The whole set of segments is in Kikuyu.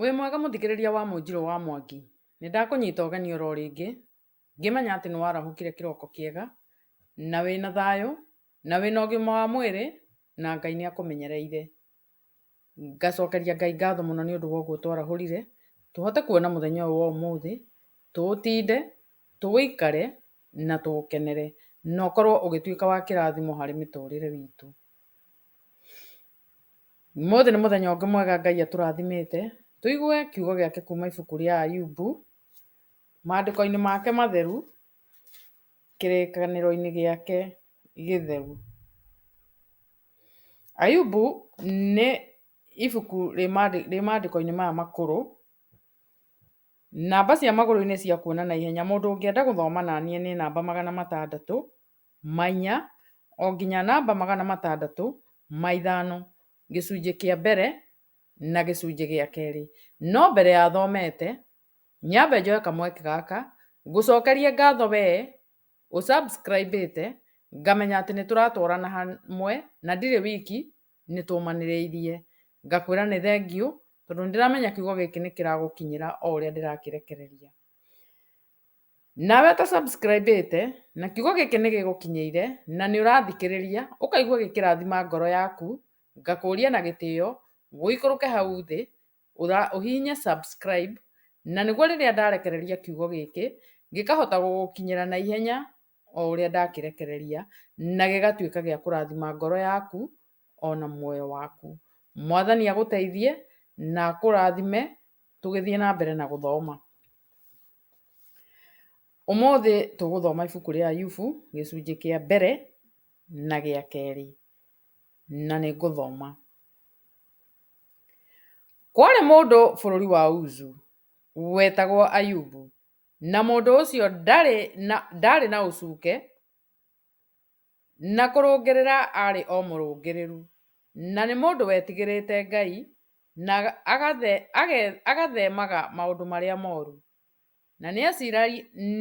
Wĩ mwega mũthikĩrĩria wa Mũnjiro wa Mwangi, nĩ ndakũnyita ũgeni oro rĩngĩ Ngĩmenya atĩ nĩ warahũkire kĩroko kĩega, na wĩ na thayũ, na wĩ na ũgima wa mwĩrĩ, na Ngai nĩ akũmenyereire. Ngacokeria Ngai ngatho mũno nĩ ũndũ wa ũguo twarahũrire, tũhote kuona mũthenya ũyũ wa ũmũthĩ, tũũtinde, tũũikare, na tũũkenere, na ũkorwo ũgĩtuĩka wa kĩrathimo harĩ mĩtũrĩre itũ. Ũmũthĩ nĩ mũthenya ũngĩ mwega Ngai atũrathimĩte, tũigue kiugo gĩake kuuma ibuku rĩa Ayubu, Maandĩko-inĩ make matheru, kĩrĩkanĩro-inĩ gĩake gĩtheru. Ayubu nĩ ibuku rĩ maandĩko-inĩ maya makũrũ, namba cia magũrũ nĩ cia kuona na ihenya, mũndũ ũngĩenda gũthoma na niĩ nĩ namba magana matandatũ ma inya o nginya namba magana matandatũ ma ithano, gĩcunjĩ kĩa mbere na gĩcunjĩ gĩa kerĩ. No mbere ya thomete... Nyambe njoe kamweke gaka ngũcokerie ngatho we ũ subscribe ĩte ngamenya atĩ nĩ tũratwarana hamwe na ndirĩ wiki nĩ tũmanĩrĩirie. Ngakwĩra nĩ thengiũ tondũ nĩ ndĩramenya kiugo gĩkĩ nĩ kĩragũkinyĩra o ũrĩa ndĩrakĩrekereria. Nawe ũta subscribe ĩte na kiugo gĩkĩ nĩ gĩgũkinyĩire na nĩ ũrathikĩrĩria ũkaigua gĩkĩrathima ngoro yaku, ngakũria na gĩtĩo ũikũrũke hau thĩ ũhihinye subscribe na nĩguo rĩrĩa ndarekereria kiugo gĩkĩ gĩkahota gũgũkinyĩra na ihenya o ũrĩa ndakĩrekereria na gĩgatuĩka gĩa kũrathima ngoro yaku ona muoyo waku. Mwathani agũteithie na akũrathime tũgĩthiĩ na mbere na gũthoma. Ũmũthĩ tũgũthoma ibuku rĩa Ayubu gĩcunjĩ kĩa mbere na gĩa kerĩ. na nĩ ngũthoma. Kwarĩ mũndũ bũrũri wa Uzu wetagwo Ayubu, na mũndũ ũcio ndarĩ na, ndarĩ na ũcuke, na kũrũngĩrĩra aarĩ o mũrũngĩrĩru, na nĩ mũndũ wetigĩrĩte Ngai, na agathe, age, agathemaga maũndũ marĩa moru. Na nĩaciara,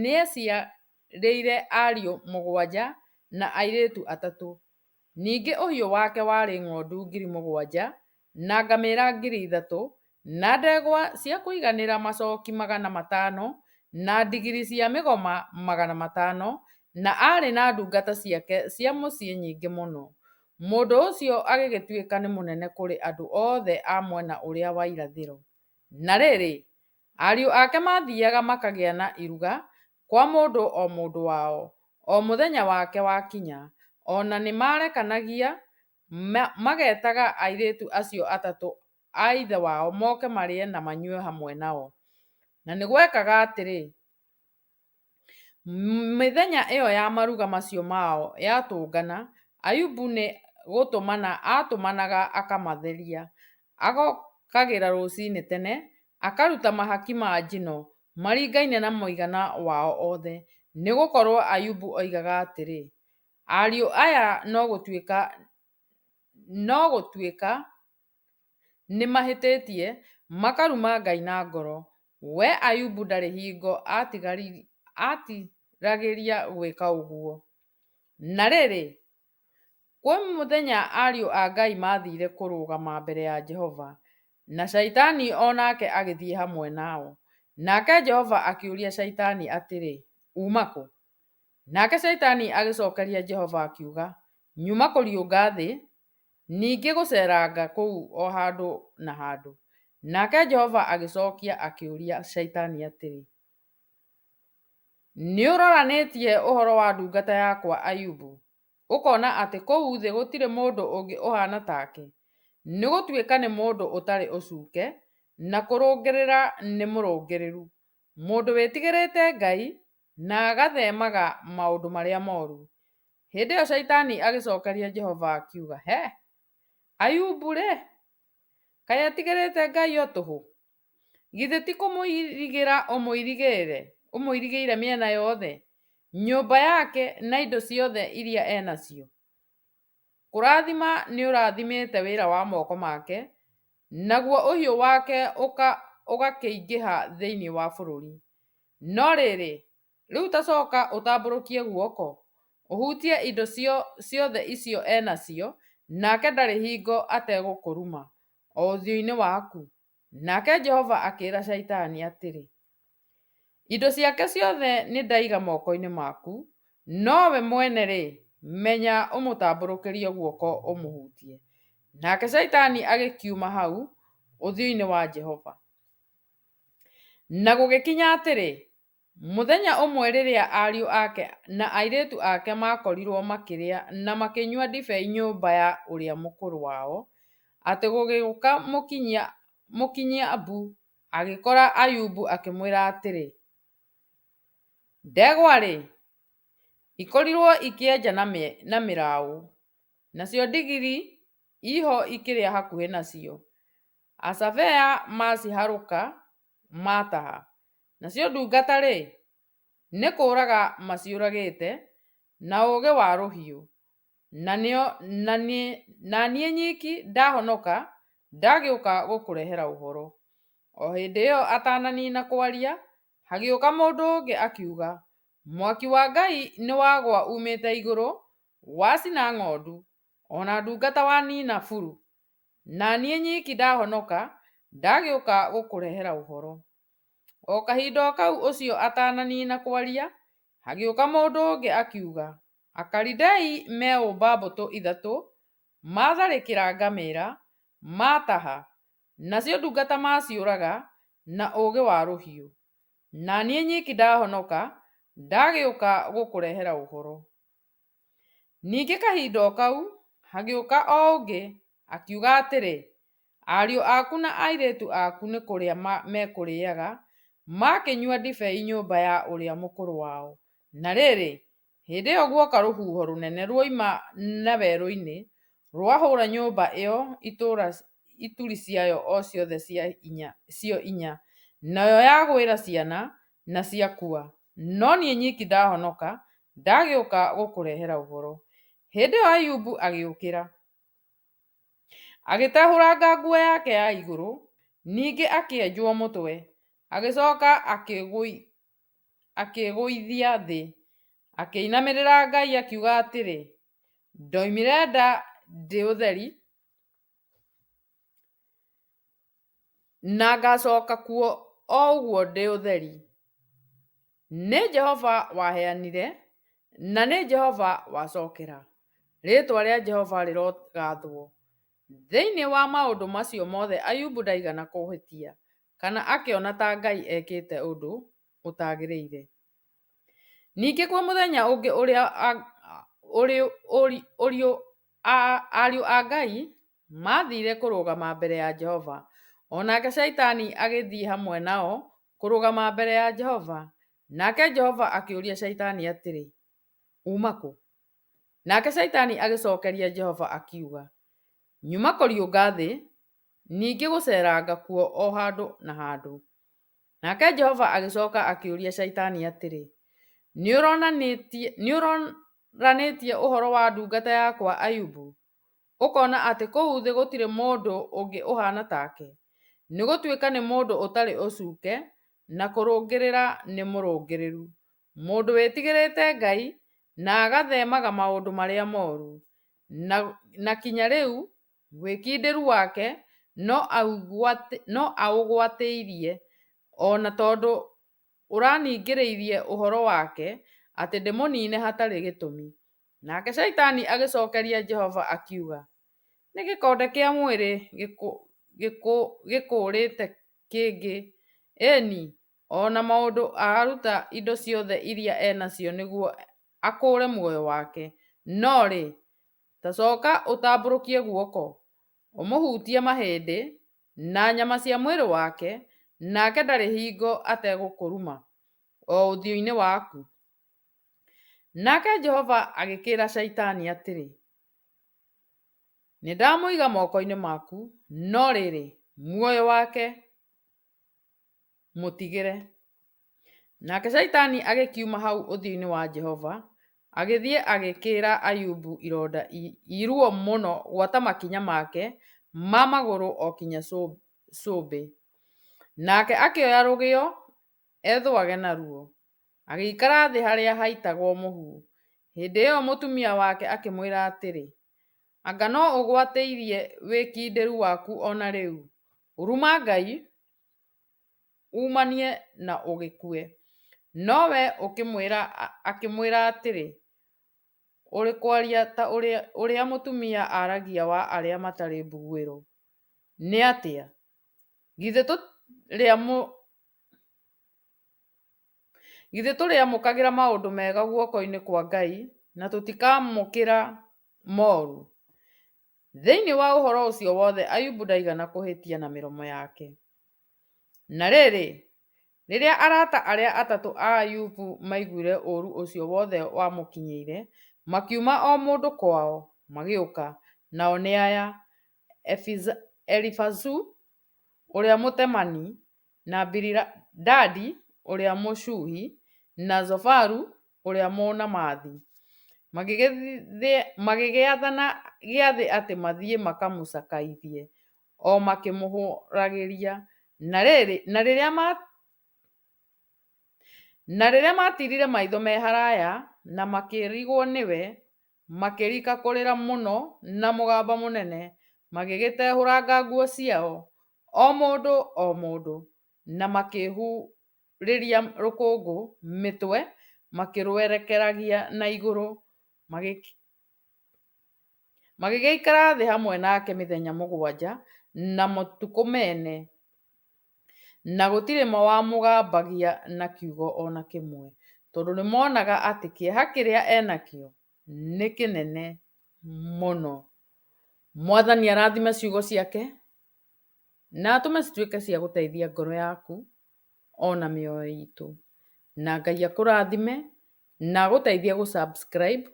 nĩaciarĩire ariũ mũgwanja na airĩtu atatũ. Ningĩ ũhiũ wake warĩ ng'ondu ngiri mũgwanja, na ngamĩra ngiri ithatũ, na ndegwa cia kũiganĩra macooki magana matano, na ndigiri cia mĩgoma magana matano, na aarĩ na ndungata ciake cia mũciĩ nyingĩ mũno. Mũndũ ũcio agĩgĩtuĩka nĩ mũnene kũrĩ andũ othe a mwena ũrĩa wa irathĩro. Na rĩrĩ, ariũ ake maathiiaga makagĩa na iruga kwa mũndũ o mũndũ wao, o mũthenya wake wakinya, o na nĩmaarekanagia magetaga airĩtu acio atatũ a ithe wao moke marĩe na manyue hamwe nao. Na nĩgwekaga atĩrĩ, mĩthenya ĩyo ya maruga macio mao yatũngana, Ayubu nĩgũtũmana aatũmanaga akamatheria, agokagĩra rũcinĩ tene, akaruta mahaki ma njino maringaine na mũigana wao othe, nĩ gũkorũo Ayubu oigaga atĩrĩ, Ariũ aya no gũtuĩka no gũtuĩka nĩ mahĩtĩtie, makaruma Ngai na ngoro. We Ayubu ndarĩ hingo aatigagĩria gwĩka ũguo. Na rĩrĩ, Kwĩ mũthenya ariũ a Ngai maathire kũrũgama mbere ya Jehova, na Shaitani o nake agĩthiĩ hamwe nao. Nake Jehova akĩũria Shaitani atĩrĩ, Uuma kũ? Nake Shaitani agĩcokeria Jehova akiuga, Nyuma kũriũnga thĩ, ningĩ gũceeranga kũu o handũ na handũ. Nake Jehova agĩcokia akĩũria Shaitani atĩrĩ, Nĩ ũroranĩtie ũhoro wa ndungata yakwa Ayubu, ũkona atĩ kũu thĩ gũtirĩ mũndũ ũngĩ ũhaana take, nĩ gũtuĩka nĩ mũndũ ũtarĩ ũcuuke, na kũrũngĩrĩra nĩ mũrũngĩrĩru, mũndũ wĩtigĩrĩte Ngai, na agatheemaga maũndũ marĩa moru. Hĩndĩ ĩyo Shaitani agĩcookeria Jehova akiuga, Hĩ! Ayubu-rĩ, Kaĩ atigĩrĩte Ngai o tũhũ? Githĩ ti kũmũirigĩra ũmũirigĩire, ũmũirigĩire mĩena yothe, nyũmba yake na indo ciothe iria e nacio? Kũrathima nĩũrathimĩte wĩra wa moko make, naguo ũhiũ wake ũgakĩingĩha thĩinĩ wa bũrũri. No rĩrĩ, Rĩu ta coka ũtambũrũkie guoko, ũhutie indo ciothe icio e nacio, nake ndarĩ hingo ategũkũruma, o ũthiũ-inĩ waku. Nake Jehova akĩĩra Shaitani atĩrĩ, Indo ciake ciothe nĩ ndaiga moko-inĩ maku, no we mwene-rĩ, menya ũmũtambũrũkĩrie guoko ũmũhutie. Nake Shaitani agĩkiuma hau ũthiũ-inĩ wa Jehova. Na gũgĩkinya atĩrĩ, Mũthenya ũmwe rĩrĩa ariũ ake na airĩtu ake maakorirũo makĩrĩa na makĩnyua ndibei nyũmba ya ũrĩa mũkũrũ wao, atĩ gũgĩũka mũkinyia mũkinyia mbu, agĩkora Ayubu akĩmwĩra atĩrĩ, Ndegwa-rĩ, ikorirũo ikĩenja na mĩraũ, nacio ndigiri iho ikĩrĩa hakuhĩ nacio, aca bea maciharũka mataha, nacio ndungata-rĩ, nĩ kũũraga maciũragĩte na ũũgĩ wa rũhiũ, na niĩ nyiki ndahonoka ndagĩũka gũkũrehera ũhoro. O hĩndĩ ĩyo atananiina kwaria, hagĩũka mũndũ ũngĩ akiuga, Mwaki wa Ngai nĩwagũa uumĩte igũrũ wacina ng'ondu, o na ndungata waniina buru. Na niĩ nyiki ndahonoka, ndagĩũka gũkũrehera ũhoro. O kahinda o kau ũcio atananiina kwaria, hagĩũka mũndũ ũngĩ akiuga, Akalidei meũmba mbũtũ ithatũ, maatharĩkĩra ngamĩra, maataha, nacio ndungata maaciũraga na ũũgĩ wa rũhiũ. Na niĩ nyiki ndahonoka, ndagĩũka gũkũrehera ũhoro. Ningĩ kahinda o kau hagĩũka o ũngĩ, akiuga atĩrĩ, Ariũ aku na airĩtu aku nĩ kũrĩa mekũrĩaga, makĩnyua ndibei nyũmba ya ũrĩa mũkũrũ wao. Na rĩrĩ, hĩndĩ ĩyo guoka rũhuho rũnene ruoima na werũ-inĩ, rwahũũra nyũmba ĩyo itũũra ituri ciayo o ciothe cio inya, nayo yagwĩra ciana, na ciakua. No niĩ nyiki ndahonoka, ndagĩũka gũkũrehera ũhoro. Hĩndĩ ĩyo Ayubu agĩũkĩra, agĩtehũranga nguo yake ya igũrũ, ningĩ akĩenjwo mũtwe, agĩcoka akĩĩgũithia thĩ, akĩinamĩrĩra Ngai akiuga atĩrĩ, Ndoimire nda ndĩ ũtheri, Na ngacoka kuo o ũguo ndĩ ũtheri. Nĩ Jehova waheanire, na nĩ Jehova wacokera. Rĩĩtwa rĩa Jehova rĩrogathwo. Thĩinĩ wa maũndũ macio mothe Ayubu ndaigana kũhĩtia, kana akĩona ta Ngai ekĩte ũndũ ũtagĩrĩire. Ningĩ kwĩ mũthenya ũngĩ ũrĩa ariũ a Ngai maathire kũrũgama mbere ya Jehova. O nake Shaitani agĩthiĩ hamwe nao kũrũgama mbere ya Jehova. Nake Jehova akĩũria Shaitani atĩrĩ, Uuma kũ? Nake Shaitani agĩcokeria Jehova akiuga, Nyuma kũriũnga thĩ, Ningĩ gũceeranga kuo o handũ na handũ. Nake Jehova agĩcoka akĩũria Shaitani atĩrĩ, Nĩũronanĩtie ũhoro wa ndungata yakwa Ayubu, ũkona atĩ kũu thĩ gũtirĩ mũndũ ũngĩ ũhaana take, nĩ gũtuĩka nĩ mũndũ ũtarĩ ũcuuke, na kũrũngĩrĩra nĩ mũrũngĩrĩru, mũndũ wĩtigĩrĩte Ngai, na agatheemaga maũndũ marĩa mooru, na kinya rĩu Wĩkindĩru wake no aũgwatĩirie, o na tondũ ũraningĩrĩirie ũhoro wake atĩ ndĩmũniine hatarĩ gĩtũmi. Nake Shaitani agĩcokeria Jehova akiuga, Nĩ gĩkonde kĩa mwĩrĩ gĩkũũrĩte kĩngĩ, ĩĩ-ni, o na mũndũ aruta indo ciothe iria e nacio nĩguo akũũre muoyo wake, no-rĩ, Ta coka ũtambũrũkie guoko, ũmũhutie mahĩndĩ na nyama cia mwĩrĩ wake, nake ndarĩ hingo ategũkũruma, o ũthiũ-inĩ waku. Nake Jehova agĩkĩĩra Shaitani atĩrĩ, Nĩndamũiga moko-inĩ maku, no rĩrĩ, muoyo wake Mũtigĩre. Nake Shaitani agĩkiuma hau ũthiũ-inĩ wa Jehova, agĩthiĩ agĩkĩĩra Ayubu ironda iruo mũno gwata makinya make ma magũrũ o kinya cũmbĩ. Nake akĩoya rũgĩo ethũage naruo, agĩikara thĩ harĩa haitagwo mũhu. Hĩndĩ ĩyo mũtumia wake akĩmwĩra atĩrĩ, Anga no ũgwatĩirie wĩkindĩru waku o na rĩu? Ruma Ngai! uumanie na ũgĩkue. Nowe akĩmwĩra atĩrĩ, Ũrĩ kwaria ta ũrĩa mũtumia aragia wa arĩa matarĩ mbuguĩro. Nĩ atĩa? Githĩ tũrĩamũkagĩra maũndũ mega guoko-inĩ kwa Ngai na tũtikamũkĩra moru? Thĩinĩ wa ũhoro ũcio wothe Ayubu ndaigana kũhĩtia na mĩromo yake. Na rĩrĩ, rĩrĩa arata arĩa atatũ a Ayubu maiguire ũũru ũcio wothe wamũkinyĩire, makiuma o mũndũ kwao, magĩũka, nao nĩ aya, Elifazu ũrĩa Mũtemani, na Bilidadi ũrĩa Mũshuhi, na Zofaru ũrĩa Mũnaamathi, magĩgĩathana gĩathĩ atĩ mathiĩ makamũcakaithie, o makĩmũhũgagĩria, na rĩrĩa matirire maitho me haraya, na makĩrigwo nĩwe. makĩrika kũrĩra mũno na mũgambo mũnene, magĩgĩtehũranga nguo ciao, o mũndũ o mũndũ, na makĩhurĩria rũkũngũ mĩtwe, makĩrũerekeragia na igũrũ, magĩgĩikara thĩ hamwe nake mĩthenya mũgwanja na matukũ mene. Na gũtirĩ mo wamũgambagia na kiugo o na kĩmwe, tondũ nĩmoonaga atĩ kĩeha kĩrĩa e nakĩo nĩ kĩnene mũno. Mwathani arathime ciugo ciake, na atũme cituĩke cia gũteithia ngoro yaku, o na mĩoyo itũ. Na Ngai akũrathime, na agũteithie gũ subscribe.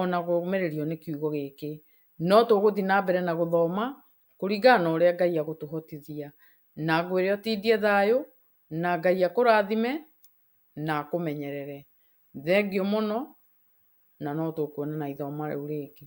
ona kũũmĩrĩrio nĩ kiugo gĩkĩ. No tũgũthiĩ na mbere na gũthoma kũringana na ũrĩa Ngai agũtũhotithia. Na ngwĩre ũtindie thayũ, na Ngai akũrathime na akũmenyerere. Thengiũ mũno, na no tũkuonana ithomo rĩu rĩngĩ.